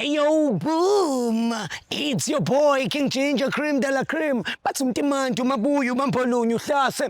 Yo, boom! It's your boy, King Ginger Cream de la Cream. Bathi umtimanti, umabuya, ubambolunye, uhlase,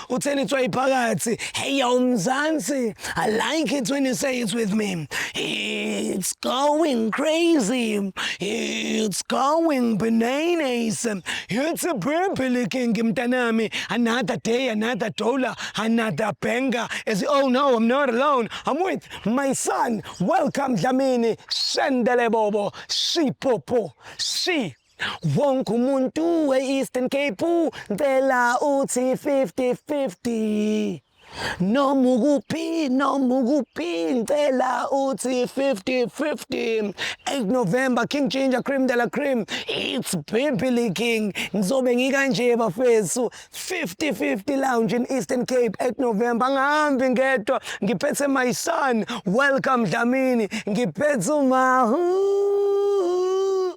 utheni itswayi phakathi hey yo mzansi i like it when you say it with me it's going crazy it's going bananas it's a baby licking mntanami another day another dollar another banger as oh no i'm not alone i'm with my son welcome dlamini shendele bobo shipopo shi Wonke umuntu e-Eastern Cape ngicela uthi 50-50 noma ukuphi noma ukuphi ngicela uthi 50-50 8 November King Ginger Cream de la Cream it's Bibili King ngizobe ngikanje bafethu 50-50 lounge in Eastern Cape 8 November angihambi ngedwa ngiphethe my son welcome Dlamini ngiphethe umahu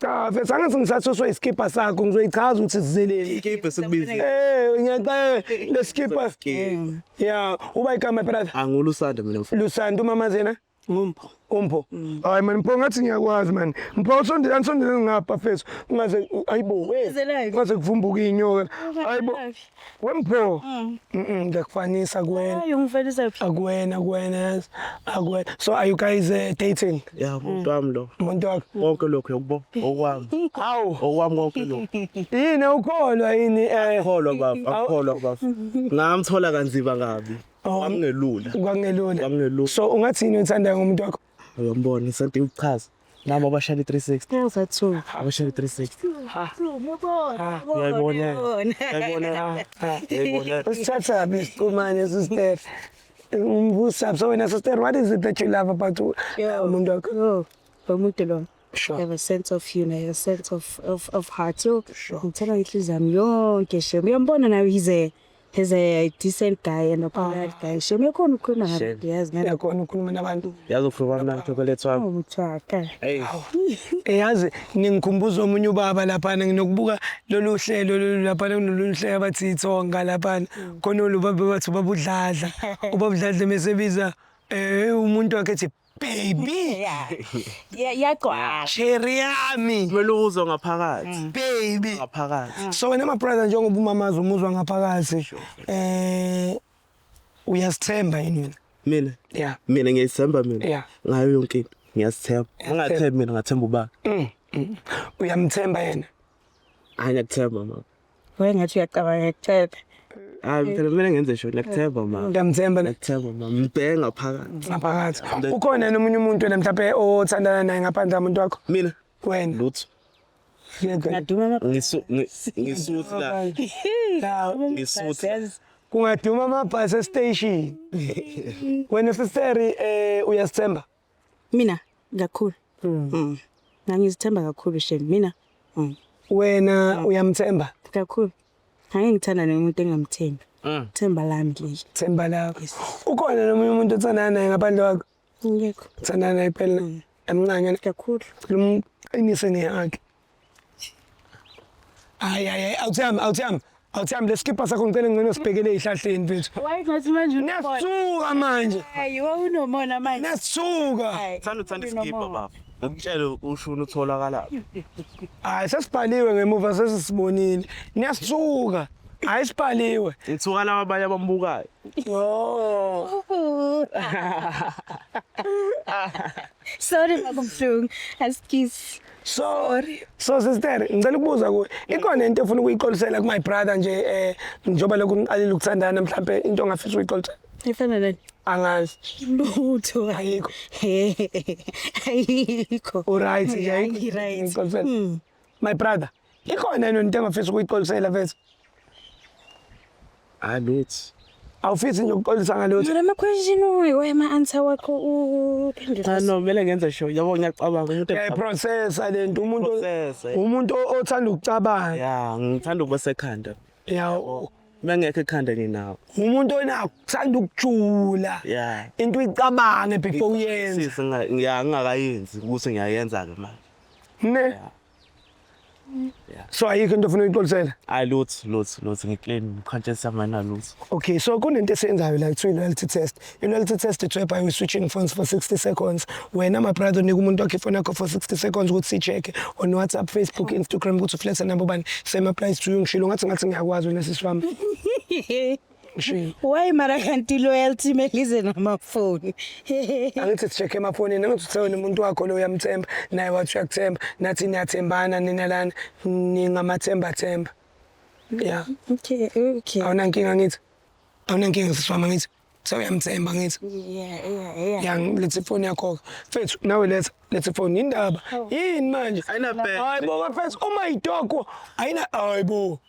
Cha mfethu angathi ngisathuswe isikibha sakho ngizoyichaza ukuthi sizeleni. Ikibha sikubiza. Eh ngiyaxela lesikibha. Yeah uba igama brother. Angulusanda mina mfethu. Lusanda umama zena. Umpho. Umpho. Mm. Hayi man Mpho ngathi ngiyakwazi man. Mpho usondela usondela ngapha mfethu. Ungaze ayibo. Ungaze kuvumbuka inyoka. Ayibo. Wempho. Mm. Mm, ngiyakufanisa kuwena. Hayi ungifanisa phi? Akuwena kuwena yazi. Akuwena. So are you guys uh, dating? Yeah, umuntu wami lo. Umuntu wakho. Konke lokho yokubo okwami. Hawu. Okwami konke lokho. Yini ukholwa yini eh Kholwa baba, akholwa baba. Ngamthola kanzima kabi. Oh. Wangelula. kwangelula. Wangelula. So ungathini uthandayo ngomuntu wakho? Uyombona isonto iwuchaza. Nami abashaya i-360. Ngenza two. Abashaya i-360. Ngibona. Uyayibona. Uyayibona. Uyayibona. Usithatha phi isiqumane sister? Umbusa so wena sister what is it that you love about u- Yo. umuntu wakho? Yo, lo muntu lo. Sure. You have a sense of humor, you have a sense of, of, of heart. Yo, ngithela inhliziyo yami yonke shem. Uyambona nawe he's a, He's a decent guy and a polite oh. guy. Shame yakhona ukukhuluma nabantu yazi ngeke. Yakhona ukukhuluma nabantu. Yazi ukhuluma mna chocolate wami. Ubuthaka. Oh, hey. Eh yazi ningikhumbuza omunye ubaba lapha nginokubuka lolu hlelo lolu lapha kunolunye hlelo abathi ithonga lapha. Mm. Khona lo baba bathi ubabudladla. Ubabudladla mesebiza eh umuntu wakhe ethi Baby. Yeah. Yeah, iyagcwala. Cherry yami. Kumele uzwe ngaphakathi. Baby. Ngaphakathi. So wena ma brother njengoba umamazi umuzwa ngaphakathi eh uyasithemba yini wena? Mina. Yeah. Mina ngiyithemba mina. Yeah. Ngayo yonke into. Ngiyasithemba. Ungathembi mina ngathemba ubaba. Mm, mm. Uyamthemba yena? Hayi ngiyakuthemba mama. wayengathi uyacabanga ekuthebe hayi phela kumele ngenze sho ngiyakuthemba ma ngiyamthemba ne- ngiyakuthemba ma ngibheke ngaphakathi ngaphakathi ukhona yena omunye umuntu wena mhlawumbe othandana naye ngaphandle kamuntu wakho mina wena lutho yedwa ngaduma ama Ngisu- ngi- ngisuthi la Hawu, ngisuthi la. kungaduma amabhasi estation wena siseri um uyasithemba Mina kakhulu. Mm. Mm. Ngangizithemba kakhulu shem mina. Mm. Wena uyamthemba? Kakhulu. Ngeke ngithanda nomuntu engamthembi. Mm. Themba lami leli. Themba lakho. Yes. Ukhona nomunye umuntu othandana naye ngaphandle kwakho? Ngekho. Uthandana naye phela. Mm. Emncane. Kakhulu. Ngicela umqinise ngehaki. Hayi hayi hayi awuthami awuthami awuthami lesikipha sakho ngicela ngcono sibhekele ezihlahleni mfethu. Wayengathi manje unobona. Nasuka manje. Hayi wawunomona manje. Nasuka. Hayi, Thanda uthanda isikibha unomona. baba. Umtshele ushuni utholakala. Hayi sesibhaliwe ngemuva sesisibonile. Niyasuka. Hayi sibhaliwe. Ngithuka laba abanye abambukayo. Oh. Sorry bakumhlungu. Askies. sorry so sister ngicela ukubuza kuwe ikhona into efuna ukuyixolisela ku my brother nje eh njoba lokhu ngiqalile ukuthandana mhlambe into ongafisa ukuyixolisela ifana nani angazi lutho ayikho ayikho uright ayikho right my brother Ikhona yini into engafisa ukuyixolisela mfethu? Hayi bethi. Awufisi nje ukuxolisa ngalutho. Mara ama question uyo ama answer wakho uphendula. Cha no kumele ngenze show. Yabo ngiyacabanga umuntu Yeah, ecabanga. processor lento umuntu Processor. umuntu o- othanda ukucabanga. Ya, ngithanda ukuba sekhanda. Yeah, u- Mengekho ekhanda nginawo. umuntu onakho uthanda ukujula. Ya. Into uyicabange before uyenze. Sisi nga- ngiya- ngingakayenzi ukuthi ngiyayenza ke manje. Ne? so ayikho into ofuna uyixolisela hayi lutho lutho lutho ngiclean conscious yami ayina lutho okay so kunento esiyenzayo la kuthiwa i-loyalty test i-loyalty test ithiwa by switching phones for 60 seconds wena my brother unika umuntu wakhe ifoni yakho for 60 seconds ukuthi sicheke on whatsapp facebook instagram ukuthi uflethe nabo bani same applies to you ngishilo ngathi ngathi ngiyakwazi wena sisi wami Ngishiye. Why mara kanti loyalty melize namafoni. Angithi sicheck emafonini angithi uthe wena umuntu wakho lo uyamthemba naye wathi uyakuthemba nathi niyathembana nina lana ningamathemba themba. Yeah. Okay, okay. Awunankinga ngithi. Awunankinga sisifama ngithi. So uyamthemba ngithi. Yeah, yeah, yeah. Ya lethe ifoni yakho. Mfethu nawe letha lethe ifoni indaba. Yini manje? Ayina bad. Hayibo mfethu uma idoko ayina hayibo.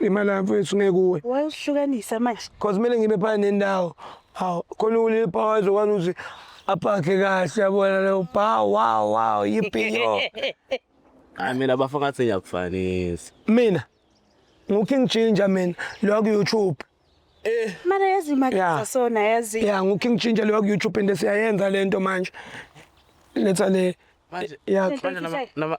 Imali yami mfethu ngeke kuwe. Why usihlukanisa manje? Cause kumele ngibe phana nendawo. Hawu khona ulile power ezokwazi ukuthi apakhe kahle yabona leyo bha wow wow yiphiyo. Hayi mina bafo ngathi ngiyakufanisa. Mina nguKing Ginger mina lo ku YouTube. Eh. Mara yazi imali yeah. sona yazi. Yeah nguKing Ginger lo ku YouTube and siyayenza lento manje. Letha le. Manje. Yeah. Manje nama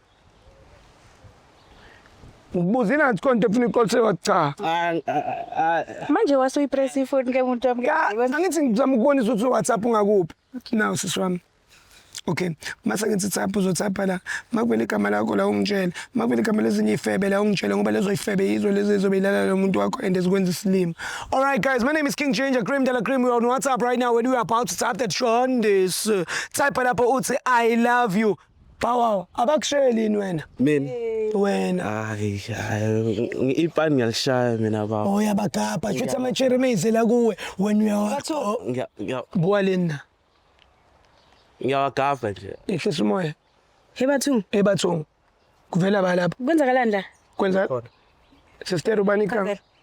Ngibuzile ngathi konke efuna iqolise wacha. Manje wase uyipress ifoni ke muntu wami. Angithi ngizama ukubonisa ukuthi WhatsApp ungakuphi. Nawu sisi wami. Okay. Mase ngithi thapha uzothapha la. Makuvele igama lakho la ungitshele. Makuvele igama lezinye ifebe la ungitshele ngoba lezo ifebe yizo lezi ezobe ilala lo muntu wakho and ezikwenza isilima. All right guys, my name is King Changer Cream Dala Cream. We are on WhatsApp right now and we are about to tap that Shondes. Type lapho uthi I love you. Bawaw, abakusheli yini wena? Mina. Wena. Hayi, hayi, ipani ngiyalishaya mina baba. Oh yabagabha, shuthi ama cherry maize la kuwe. Wena uyawa. Oh, Ngiya- ngiya- Buka lena. Ngiyawagava nje. Ehlisa umoya. Hebathu, Ebathungu. Kuvela ba lapho. kwenzakalani la? Kwenza. Sister ubani ikanga?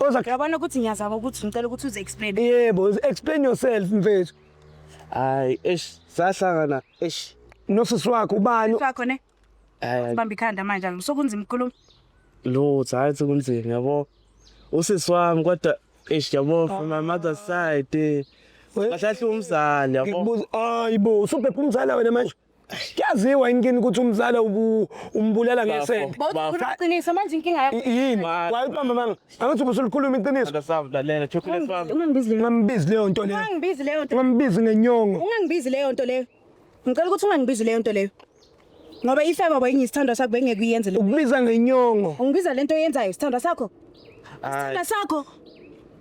Oza Uyabona ukuthi ngiyazama ukuthi ngicela ukuthi uze explain. yebo, explain yourself mfethu. Hayi, eish, sahlangana, eish. Nosisi wakho ubani? Wakho ne? Hayi, Bamba ikhanda manje angisokunzima ukukhuluma. lutho, hayi ukuthi kunzima, yabo. Usisi wami kodwa eish, yabo from my mother's side. eh. Kahle kahle umzali, yabo. Ngikubuza, hayibo, usubhebha umzala wena manje. Kuyaziwa inkini ukuthi umzala umbulala ngesende. Bawukhuluma iqiniso manje inkinga yakho. Yini? Wayibamba manga. Angathi ubusulikhuluma iqiniso. Ndasavulalela chocolate farm. Ungangibizi leyo. Ungangibizi leyo nto leyo. Ungangibizi leyo nto. Ungangibizi ngenyongo. Ungangibizi leyo nto leyo. Ngicela ukuthi ungangibizi leyo nto leyo. Ngoba ife baba ingiyisithandwa sakho bengeke uyenze leyo. Ukubiza ngenyongo. Ungibiza lento oyenzayo isithandwa sakho. Isithandwa sakho.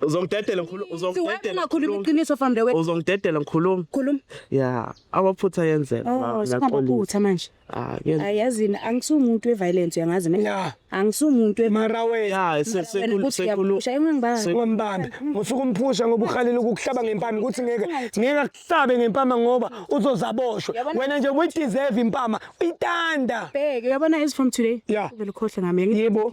Uzongidedela ngikhuluma, Siwena uzongidedela. ungakhuluma ngikhuluma. iqiniso fambe wena. Uzongidedela ngikhuluma. Khuluma. Ya, amaphutha ayenzeka. Oh, Nga- ngaqolisa. singamaphutha manje. Ah, ke- Ayazini angisumuntu weviolence uyangazi mina. Ya. Angisumuntu we mara wena Ya, se- Wena sekulu- ukuthi sekulu- uyaphusha, yini ngibamba? se- ungambambi ngifika umphusha ngoba uhalile ukukuhlaba ngempama ukuthi ngeke ngeke akuhlabe ngempama ngoba uzozaboshwa Yabona- wena nje uyideserve impama uyitanda Bheke, uyabona as from today. Ya. Uvele ukhohle ngami. yebo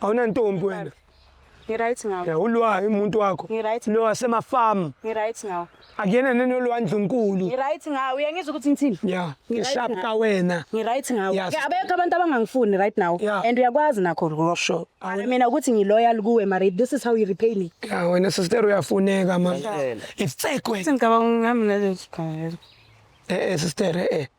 Awunantombi wena. Ngiright ngawo. Ya ulwa umuntu wakho. Ngiright. Lo wasema farm. Ngiright ngawo. Akuyena nenolwa ndlunkulu. Ngiright ngawo. Uyangizwa ukuthi ngithini? Ya. Ngishap ka wena. Ngiright ngawo. Ke abekho abantu abangangifuni right now. And uyakwazi nakho rock. Sure. Mina ukuthi ngiloyal kuwe mari this is how you repay me. Ya wena sister uyafuneka manje. Ifsekwe. Ngicabanga ngami nalezi khaya. Eh eh sister eh.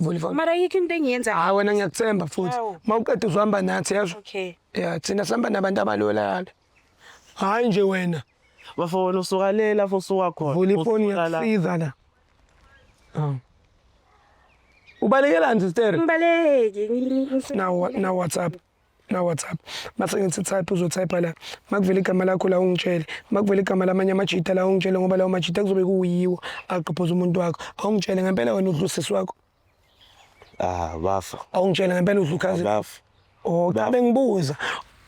Vulva. mara yikho into engiyenza Hayi wena ngiyakuthemba futhi. Hawu. Mawuqeda uzohamba nathi yezwa. okay Yeah, thina sihamba nabantu abalolala. Hayi nje wena. bafo wena usuka le lapho usuka khona Vula ifoni Usuka la. ngiyakusiza la. Ah. Ubalekelani sister? ngibaleki Na na WhatsApp. na WhatsApp mase ngithi type uzotype la makuvela igama lakho la ungitshele makuvela igama lamanye amajita la ungitshele ngoba lawo majita kuzobe kuyiwo aqophoza umuntu wakho awungitshele ngempela wena udlusisi wakho ah bafa awungitshele ngempela udlukhazi bafa oh cha bengibuza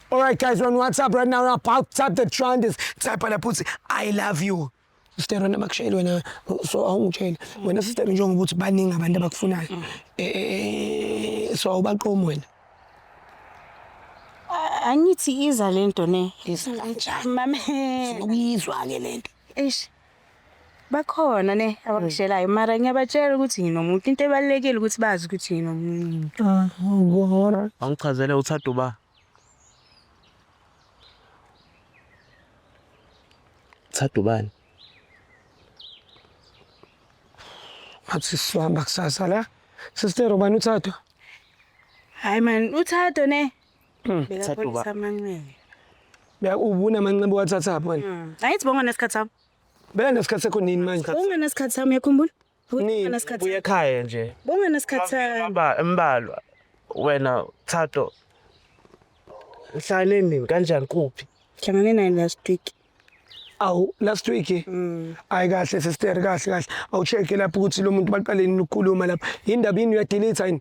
All right, guys, we're on WhatsApp right now. We're about to tap the trend. Type on the pussy. I love you. Sister wena bakushayile wena so awungitsheli wena sister njengoba ukuthi baningi abantu abakufunayo mm. eh, eh, eh, so awubaqomi wena angithi iza lento ne iza kanjani mama uyizwa ke lento eish bakhona ne abakushelayo mm. mara ngiyabatshela ukuthi nginomuntu into ebalekile ukuthi bazi ukuthi nginomuntu ah, awungora angichazele uthada uba Thatha ubani? Ngathi sihamba kusasa la. Sister ubani uthathwa? Hayi man, uthatho ne. Hmm, Thatha uba- Bekapholisa amanxeba. Beka ubuna amanxeba wathatha pho wena. Mm. Angithi bonga nesikhathi sami. Beka nesikhathi sakho nini manje? Bonga nesikhathi sami yakhumbula. nibuye ekhaya nje bunganasikhathana embalwa wena thato uhlale nini kanjani kuphi hlangane naye last week awu last week mm. ayi kahle sister kahle kahle awucheck lapho ukuthi lo muntu baqaleni ukukhuluma lapha yindaba yini uyadelete yini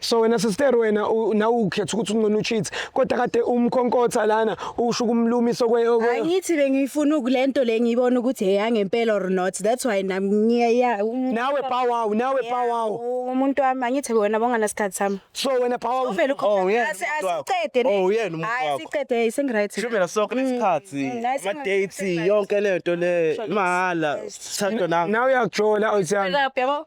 so wena sister wena nawe ukhetha ukuthi ungcono ucheat kodwa kade umkhonkotha lana usho kumlumisa okweyo hayi ngithi bengifuna ukulento le ngiyibona ukuthi eyangempela or not that's why nami ngiya nawe power nawe power umuntu wami angithi wena bongana sikhathi sami so wena power uvela ukhonkotha asicede oh uyena umuntu wakho asicede ising right shumela sonke nesikhathi mm, mm, ama dates yonke lento le mahala sithandwa nawe nawe uyakujola oyithanda yabo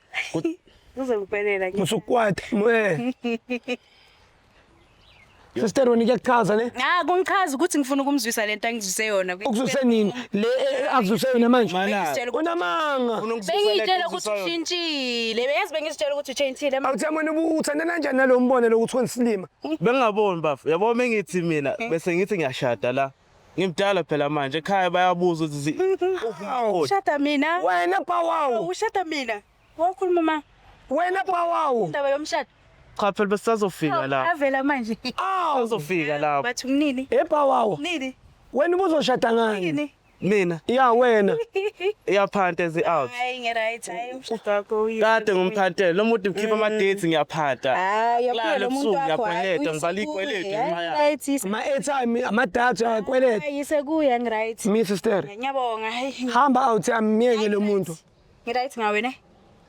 Uzongiphelela nje. Musukwati mwe. Sister wena kuyakuchaza ne? Ah kungichaza ukuthi ngifuna ukumzwisa lento angizwise yona. Ukuzwise nini? Le eh, eh, akuzwise yona manje. Bengizitshela ukuthi Unamanga. bengizitshela ukuthi ushintshile. Beyazi bengizitshela ukuthi uchintshile. Ma- Awuthi yamona ubu- uthanda kanjani nalowo mbono lokuthi wenza isilima? Bengingaboni bafo. Yabo mengithi mina bese ngithi ngiyashada la. Ngimdala phela manje ekhaya bayabuza ukuthi zi- Hawu, Ushada mina. wena pawawu Ushada mina. Wakhuluma ma wena pawawu indaba yomshado. cha phela besazofika la. Avela manje. awu Bazofika la. Bathi kunini? e pawawu Nini? wena ubuzoshada ngani Nini? Mina ya wena iyaphanta ezi out. Hayi ngeright hayi. kade ngimphathele lo muntu ukhipha mm. ama-dates ngiyaphata hayi yaphela lo muntu wakho ngiyabhaleta ngibhala ikweletu ngenxa yakhe ama-airtime ama-data uyakweleta yisekuya ngiright mi sister ngiyabonga hamba out amyeke lo muntu ngiright ngawe ne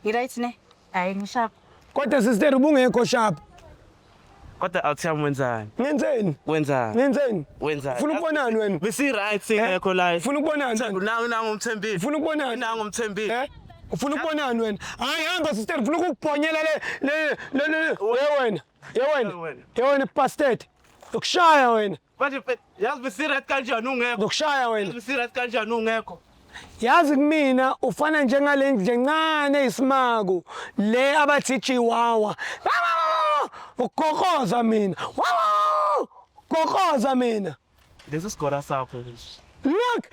ngiright ne hayi ngisharp kodwa sister ubungekho sharp Kodwa awuthiyami wenzani? Ngenzeni? Wenzani? Ngenzeni? Wenzani? Funa ukubonani wena? Besi right singekho eh? la. Funa ukubonani? Nangu nangu umthembile. Funa ukubonani? Nangu umthembile. Eh? Ufuna ukubonani wena? Hayi hamba sister, ufuna ukubhonyela le le le le. Ye wena. Ye wena. Ye wena pastor. Ukushaya wena. Manje yazi besiret kanjani ungekho? Ndokushaya wena. Besiret kanjani ungekho? Yazi kumina ufana njengale nje ncane isimaku le abathi chiwawa. Ugokoza mina. Wawu! Gokoza mina. Lesi sigora sakho nje. Look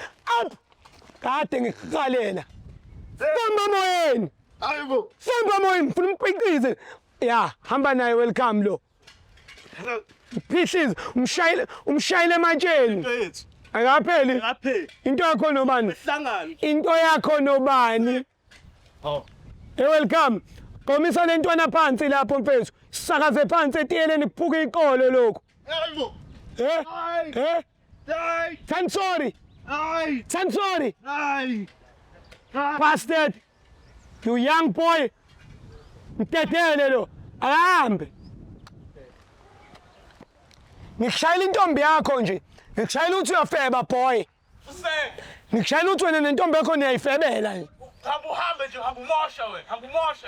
up. Kade ngikukalela. Samba moyeni. Hayibo. Samba moyeni ngifuna umpiqize. Ya, hamba naye welcome lo. Phihliza umshayile umshayile ematsheni. Into yethu. Akapheli. Akapheli. Into yakho nobani? Ihlangano. Into yakho nobani? Oh. Hey welcome. Qomisa le ntwana phansi lapho mfethu. Sakaze phansi etiyeleni kuphuka iqolo lokho. Yebo. Eh? Eh? Ay! Ten sorry! Ay! Ten sorry! Ay! Ah! Bastard! You young boy! Mtetele lo! Ahambe! Ngikushayela intombi yakho nje. Ngikushayela ukuthi uyafeba boy. Ngikushayela ukuthi wena nentombi yakho niyayifebela nje. Hamba uhambe nje, hamba umosha wena, hamba umosha.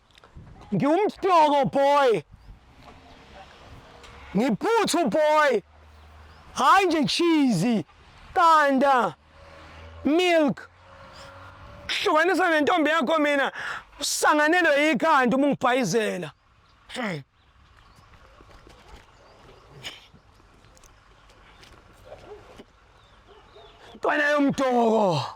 Ngiwumstoko boy. Ngiphuthu boy. Hayi nje cheese, qanda, milk. Hlukanisa nentombi yakho mina usanganelwe yikhanda uma ungibhayizela. Hmm. Ntwana yomtoko.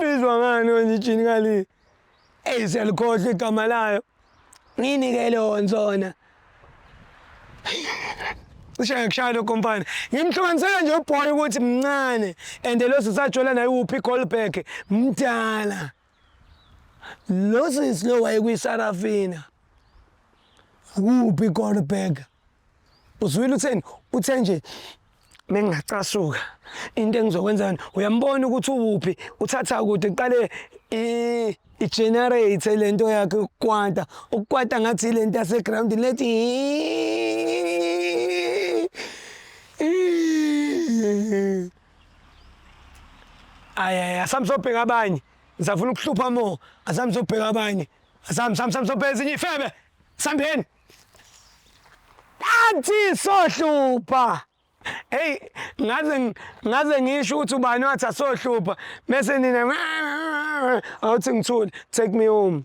Bizwa ngani wenye ijini ngale? Eyi siyalikhohlwa igama layo. Nginike leyo nsona. Cishe ngikushaya lokho mfana. Ngimhlukanisela nje ubhoyi ukuthi mncane and lo sisajola naye uphi Goldberg mdala. Lo sisi lo wayekwisarafina kuphi Goldberg uzwile utheni uthe nje mengingacasuka into engizokwenza yona uyambona ukuthi uwuphi uthatha kude kuqale i-generate le nto yakhe ukukwata ukukwata ngathi le nto yasegrawundini lethi ayaya samsobheka abanye ngisafuna ukuhlupha mo asami sobheka abanye asami sami sami sobheka ezinye ifebe sambeni athi sohlupha hey ngaze ngaze ngisho ukuthi ubani wathi asohlupha bese nina awuthi ngithule take me home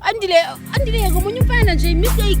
Andile, andile yeka omunye umfana nje mistake.